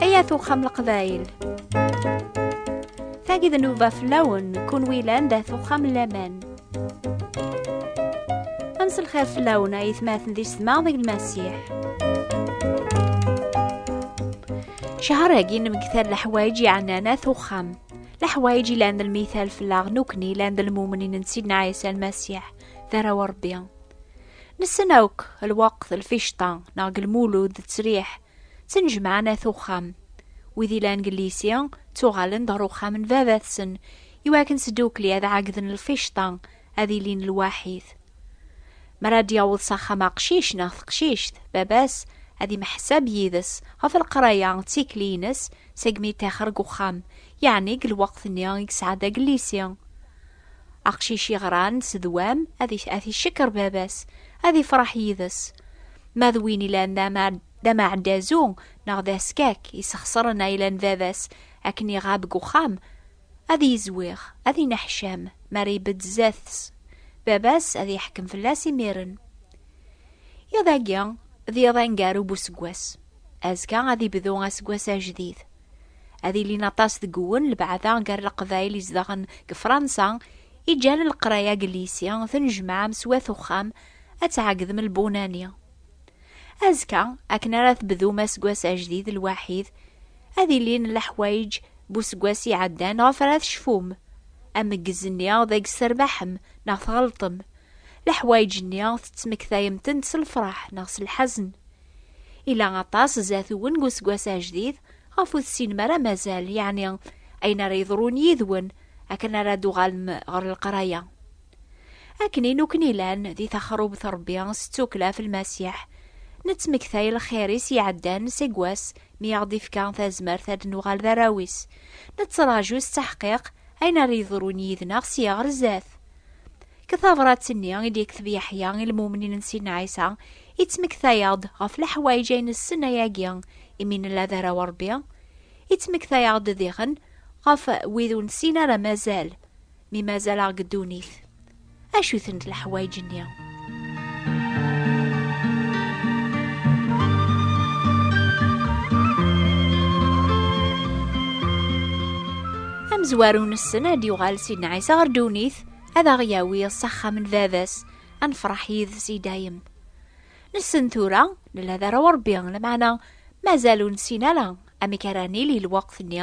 Ayat uxxam leqbayl Tagi d nuba fell-awen kunwi lan dat uxxam laman Ansi lxir fell-awen ay tmaten di setma deg lmasiḥ Cahar-agi nemgtal leḥwayeǧ yeɛnan at uxxam leḥwayeǧ ilan d lmithal fell-aɣ nukni ilan d lmumnin n Sidna Ɛisa Lmasiḥ d arraw n Ṛebbi. Nessen akk lweqt, lficṭa, neɣ deg lmulud d ttesriḥ, ttnejmaɛen at uxxam. Wid ilan deg llisi ttuɣalen-d ɣer uxxam n baba-tsen iwakken sdukli ad ɛeggden lficṭa ad ilin lwaḥid. Mi ara d-yaweḍ s axxam aqcic neɣ teqcict, baba-s ad imḥessab yid-s ɣef leqraya d tikli-ines segmi yettaxer deg uxxam, yeɛni deg lweqt-nni i yesɛa d agellisi. Aqcic yeɣran s ddwam ad t-icekkeṛ baba-s, ad ifṛeḥ yid-s. Ma d win ilan d ameɛdazu neɣ d askak, yessexṣren ayla n baba-s akken iɣab deg uxxam, Ad yezwiɣ, ad ineḥcam, mi ara ibedd sdat-s, baba-s ad iḥkem fell-as imiren. Iḍ-agi, d iḍ aneggaru n useggas. Azekka ad ibdu aseggas ajdid. Ad ilin aṭas deg uwen lebɛada gar leqbayel izedɣen deg Fransa, i ǧǧan leqraya deg llisi, tnejmaɛem s wat uxxam, ad tɛegdem lbunani. Azekka, akken ara tebdum aseggas ajdid lwaḥid, ad ilin leḥwayeǧ n useggas iɛeddan ɣef ara tecfum. Ameggez-nni d agezzs terbaḥem neɣ tɣelṭem. Leḥwayeǧ-nni tettmektayem-tent s lefraḥ neɣ s lḥazen. Ila aṭas zat-wen deg useggas ajdid ɣef ur tessinem ara mazal, yeɛni ayen ara yeḍrun yid-wen akken ara d-tuɣalem ɣer leqraya. Akken i nukken ilan di taxrubt Rebbi s ttukla ɣef Lmasiḥ, nettmektay lxir-is iɛeddan seg wass mi aɣ-d-ifka tazmert ad nuɣal d arraw-is, nettraǧu s taḥqiq ayen ara yeḍrun yid-neɣ sya ɣer zdat. Deg tabṛat-nni i d-yekteb Yeḥya i lmumnin n Sidna Ɛisa, ittmektay-aɣ-d ɣef leḥwayeǧ ay nessen ayagi imi nella d arraw Rebbi, ittmektay-aɣ-d diɣen ɣef wid ur nessin ara mazal. mi mazal-aɣ deg ddunit. Acu-tent leḥwayeǧ-nni? amezwaru nessen ad yuɣal Sidna Ɛisa ɣer ddunit ad aɣ-yawi s axxam n baba-s ad nefṛeḥ yid-s i dayem. Nessen tura nella d arraw Ṛebbi lameɛna mazal ur nessin ara amek ara nili lweqt-nni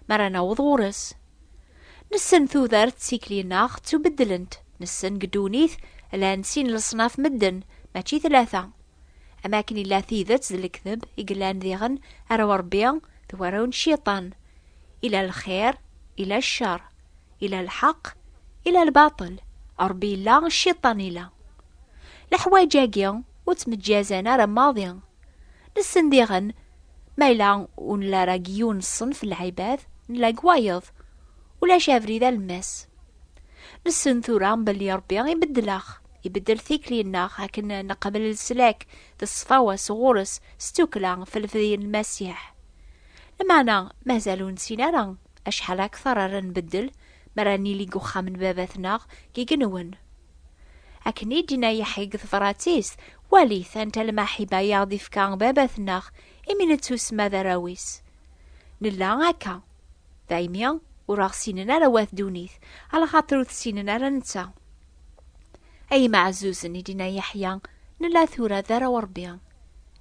mi ara naweḍ ɣur-s. Nessen tudert d tikli-nneɣ ttubeddlent, nessen deg ddunit llan sin leṣnaf medden, mačči tlata. Am akken illa tidet d lekdeb i yellan diɣen ara urebbi d waraw n cciṭan. Ila lxir, ila ccer. Ila lḥeq, ila lbaṭel. Rebbi illa, cciṭan ila. Leḥwayeǧ-agi ur ttmeǧǧazan ara maḍi. Nessen diɣen, ma yella ur nella ara deg yiwen n ṣṣenf n lɛibad, nella deg wayeḍ. Ulac abrid alemmas. Nessen tura belli Ṛebbi ibeddel-aɣ, ibeddel tikli-nneɣ akken neqbel leslak d ṣṣfawa sɣur-s s tukkla ɣef lefdi n Lmasiḥ. Lmeɛna mazal ur nessin ara Acḥal akteṛ ara nbeddel mi ara nili deg uxxam n Baba-tneɣ i yenwen? Akken i d-yenna Yeḥya deg tebṛat-is, Walit anta lmaḥiba i aɣ-d-ifka Baba-tneɣ imi nettusemma d arraw-is. Nella akka, daymi ur aɣ-ssinen ara wat ddunit, alaxaṭer ur t-ssinen ara netta. Ay imeɛzuzen, i d-yenna Yeḥya, nella tura d arraw n Ṛebbi.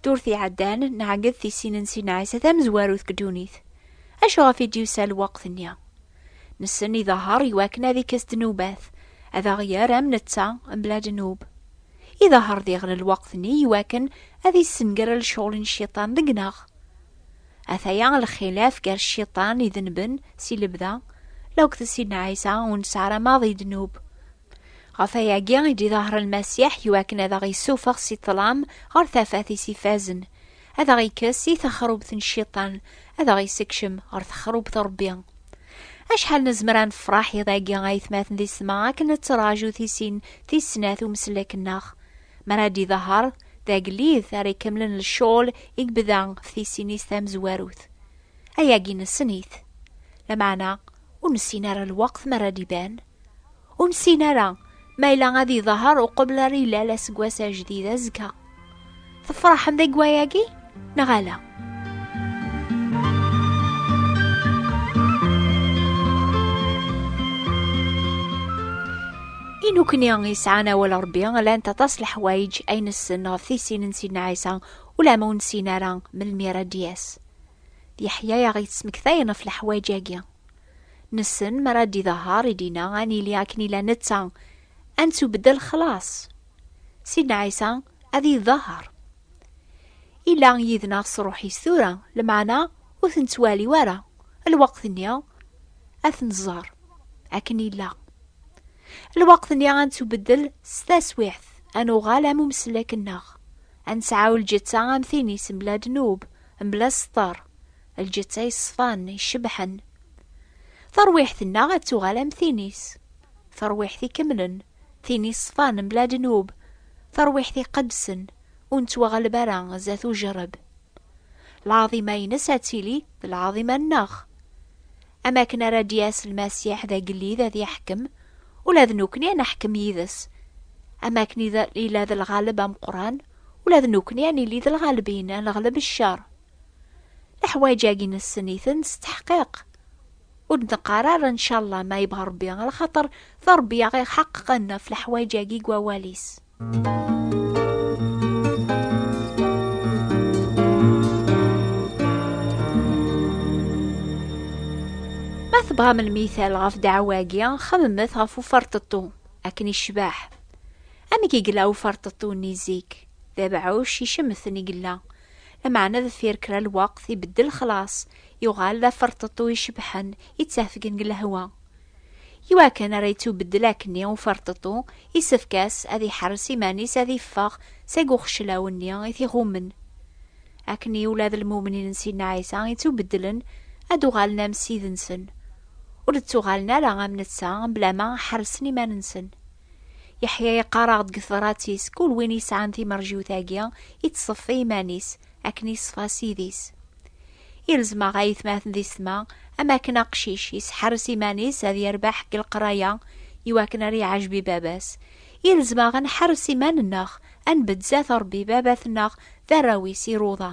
Ddurt iɛeddan, neɛged tisin-nsen Ɛisa tamezwarut deg ddunit. Acu ɣef i d-yusa lweqt-nni? Nessen iḍahher i wakken ad ikkes ddnubat, ad aɣ-yerr am netta, mebla ddnub. Iḍahher diɣen lweqt-nni i wakken ad issenger lecɣal n Cciṭan deg-neɣ. Ataya lxilaf gar Cciṭan idenben si lebda, lauked sin Ɛisa ur nesɛi ara maḍi ddnub. Ɣef wayagi i d-iḍaher Lmasiḥ i wakken ad aɣ-issufeɣ si ṭṭlam ɣer tafat-is ifazen, ad aɣ-ikkes i texrubt n Cciṭan, ad aɣ-issekcem ɣer texrubt n Rebbi. Acḥal nezmer ad nefreḥ iḍ agi aytmaten di ssma akken nettraǧu tisin tis snat umeslek-nneɣ mi ara d-iḍaher d agellid ara ikemmlen lecɣel i yebda ɣef tisin-is tamezwarut. Ayagi nessen-it. Lameɛna ur nessin ara lweqt mi ara d-iban. Ur nessin ara ma yella ad iḍahar uqbel ara ilal aseggas ajdid azekka. Tefraḥem deg wayagi neɣ ala? inukni yesɛan awal rebbi llant aṭas leḥwayeǧ ay nessen ɣef tisin n sidna ɛisa ulama ur nessin ara melmi ara d-yas d yeḥya aɣ-yettmektayen ɣef leḥwayeǧ-agi Nessen mi ara d-idehher i d-inna ad nili akken i la netta, ad nettubeddel xlaṣ. Sidna Ɛisa ad idehher. Ila yid-neɣ s ṛuḥ-is tura, lmeɛna ur t-nettwali ara, lweqt-nni ad t-nẓer akken illa. Lweqt-nni ad nettubeddel s taswiɛt, ad nuɣal am umeslek-nneɣ, ad nesɛu lǧetta am tin-is mebla ddnub, mebla sseṭer, Lǧetta yeṣfan, icebḥen. Tarwiḥt-nneɣ ad tuɣal am tin-is. Tarwiḥt ikemlen, tin yeṣfan mebla ddnub, tarwiḥt iqedsen, ur nettwaɣleb ara zdat ujerreb. Lɛaḍima-ines ad tili d lɛaḍima-nneɣ. Am akken ara d-yas Lmasiḥ d agellid ad yeḥkem, ula d nekkni ad neḥkem yid-s. Am akken ila d lɣaleb ameqqran, ula d nekkni ad nili d lɣalbin, ad neɣleb ccer. Leḥwaǧ-agi nessen-iten s teḥqiq. Ur d-neqqar ara ncallah ma yebɣa Rebbi, ala xaṭer d Rebbi i ɣ-iḥaqeqen ɣef leḥwaǧ-agi deg wawal-is. Ma tebɣam lmital ɣef ddeɛwa-agi, xemmet ɣef uferṭeṭṭu, akken icbeḥ. Amek i yella uferṭeṭṭu-nni zik? D abeɛɛuc icemten i yella, Lameɛna deffir kra n lweqt, ibeddel lexlaṣ, yuɣal d aferṭeṭṭu icebḥen, yettafgen deg lehwa. I wakken ara yettubeddel akkenni uferṭeṭṭu, yessefk-as ad iḥerres iman-is ad iffeɣ seg uxeclaw-nni i t-iɣummen. Akkenni ula d lmumnin n Sidna Ɛisa yettubeddlen, ad d-uɣalen am Ssid-nsen. Ur d-ttuɣalen ara am netta, mebla ma ḥerrsen iman-nsen. Yeḥya yeqqar-aɣ-d deg tebrat-is, kul win yesɛan timerjiwt-agi, ittṣeffi iman-is, akken iṣfa Ssid-is. Ilzem-aɣ ayetmaten di setma, am akken aqcic yesḥerres iman-is ad yerbeḥ deg leqraya i wakken ara iɛejb i baba-s, ilzem-aɣ ad nḥerres iman-nneɣ, ad nbedd zdat Rebbi, baba-tneɣ d arraw-is iruḍa.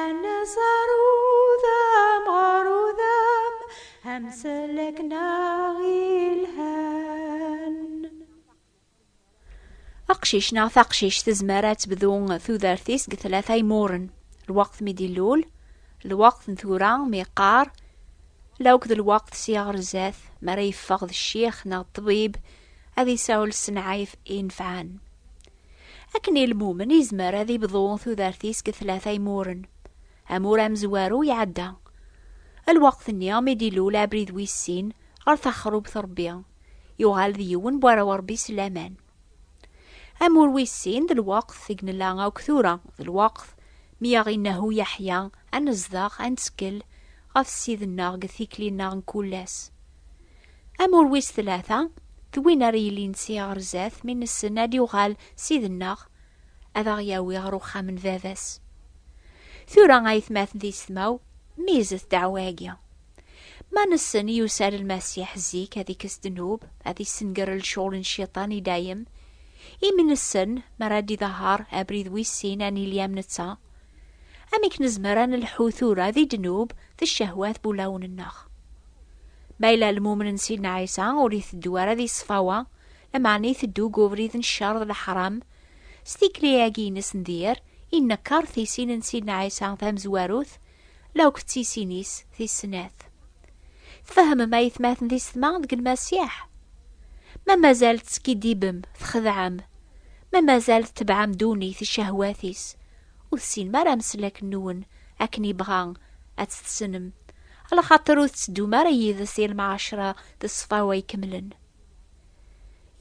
Anazar udam ɣer udam amsalak-nneɣ ilhan. Aqcic neɣ taqcict tezmer ad tebdu tudert-is deg tlata imuren. Lweqt mi d-ilul, lweqt n tura mi yeqqar, la akked lweqt si ɣer zdat mi ara yeffeɣ d ccix neɣ ṭṭbib ad isawel s nnɛayef inefɛen. Akken i lmumen yezmer ad ibḍu tudert-is deg tlata imuren. Amur amezwaru iɛedda. Lweqt-nni mi d-ilul abrid wis sin ɣer taxrubt n Rebbi, yuɣal d yiwen n warraw n Rebbi s laman. Amur wis sin d lweqt deg nella akk tura, d lweqt mi aɣ-inehhu Yeḥya ad nezdeɣ, ad nettkel ɣef Ssid-nneɣ deg tikli-nneɣ n kul ass. Amur wis tlata, d win ara yilin si ɣer zdat mi nessen ad yuɣal Ssid-nneɣ ad aɣ-yawi ɣer uxxam n baba-s. Tura a yetmaten d yessetmaw, mizet ddeɛwa-agi. Ma nessen yusa-d Lmasiḥ zik ad ikkes ddnub, ad issenger lecɣal n Cciṭan i dayem, imi nessen mi ara d-idehher abrid wis sin ad nili am netta, Amek nezmer ad nelḥu tura di ddnub d ccehwat n wulawen-nneɣ? Ma yella lmumen n Sidna Ɛisa ur iteddu ara di ṣṣfawa, lameɛna iteddu deg ubrid n ccer d leḥram, s tikli-agi-ines n dir, innekker tisin n Sidna Ɛisa tamezwarut, la akked tisin-is tis snat. Tfehmem a yetmaten tisetma deg Lmasiḥ? Ma mazal teskiddibem, txedɛem, ma mazal tetebɛem ddunit d ccehwat-is, Ur tessinem ara ameslak-nwen akken yebɣa ad t-tessnem, ala xaṭer ur tetteddum ara yid-s i lmɛacra d ṣṣfawa ikemlen.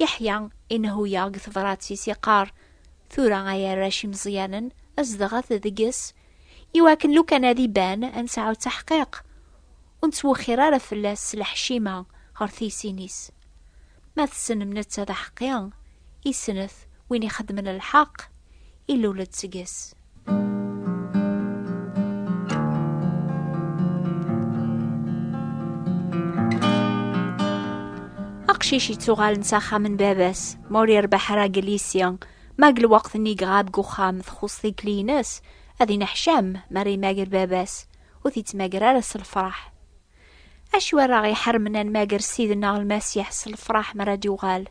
Yeḥya inehhu-yaɣ deg tebrat-is yeqqar, Tura ay arrac imeẓyanen, zedɣet deg-s, i wakken lukan ad iban ad nesɛu taḥqiq, ur nettwexxir ara fell-as s leḥcima ɣer tiysin-is. Ma tessnem netta d aḥeqqi, isnet win ixeddmen lḥeqq, ilul-d seg-s. Aqcic yettuɣalen s axxam n baba-s, ma ur yerbeḥ ara deg lyisi, ma deg lweqt-nni iɣab deg uxxam txuṣ tikli-ines, ad ineḥcam mi ara imager baba-s, ur t-yettmager ara s lfeṛḥ. Acu ara ɣ-iḥermen ad nmager Ssid-nneɣ Lmasiḥ s lefṛaḥ mi ara d-yuɣal?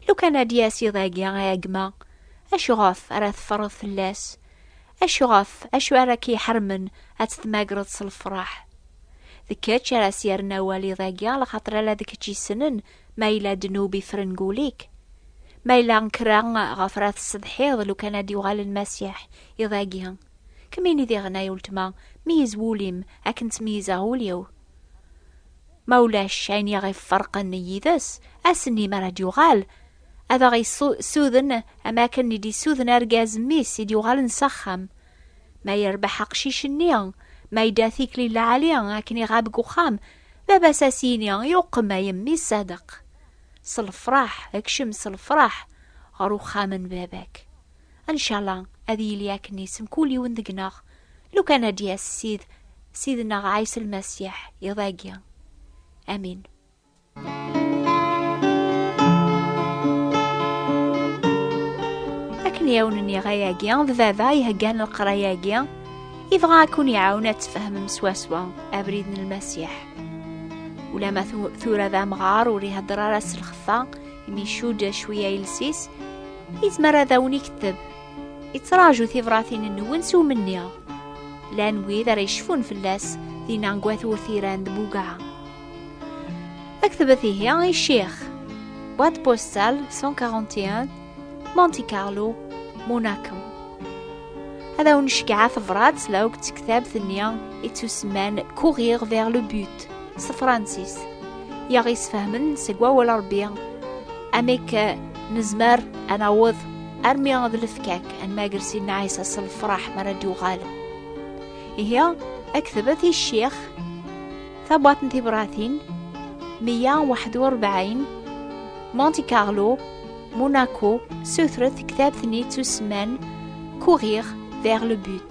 Lukan ad d-yas iḍ-agi, a gma, acuɣef ara teffreḍ fell-as? Acuɣef, acu ara k-iḥermen ad t-tmagreḍ s lefṛaḥ? D kečč ara s-yerren awal iḍ-agi, lxaṭer ala d kečč yessnen ma yella ddnub ifren deg wul-ik. Ma yella kra ɣef ara tessetḥiḍ lukan ad d-yuɣal Lmasiḥ iḍ-agi, Kem ini diɣen ay uletma, meyyez wul-im akken ttmeyyizeɣ ul-iw. Ma ulac ayen i aɣ-iferqen yid-s, ass-nni mi ara d-yuɣal, ad aɣ-yessuden am akken i d-yessuden argaz mmi-s i d-yuɣalen s axxam. Ma yerbeḥ aqcic-nni, ma yedda tikli lɛali akken iɣab deg uxxam, baba-s ad as-yini yuqem ay mmi ṣṣadeq. S lefraḥ, kcem s lefraḥ ɣer uxxam n baba-k. Ncala ad yili akken isem kul yiwen deg-neɣ, lukan ad d-yas Sid, Sidneɣ Ɛisa Lmasiḥ, iḍ-agi. Amin. Akken i awen-nniɣ ayagi, d baba iheggan leqraya-agi, ibɣa ad kun-iɛawen ad tfehmem swaswa abrid n Lmasiḥ. Ulama tura d amɣar ur iheddeṛ ara s lxeffa, imi icudd cwiya iles-is, Izmer ad awen ikteb. Ittraǧu tibratin-nwen s umenni. Llan wid ara yecfun fell-as dinna deg wat urtiran d Bugaɛa. Aktbet ihi i Ccix. Boîte postale 141 Monte Carlo, Monaco. Ad awen-ceggɛeɣ tebṛat la akk d tektabt-nni ittusemman Courir vers le but. s tefransist i aɣ-yesfehmen seg wawal Ṛebbi amek nezmer ad naweḍ armi d lefkak ad nmager Sidna Ɛisa s lefṛaḥ mi ara d-yuɣal. Ihi aktebet i ccix tabwaḍt n tibratin 141 Monte Carlo Monaco sutret ktabt-nni ttusemman Courir vers le but.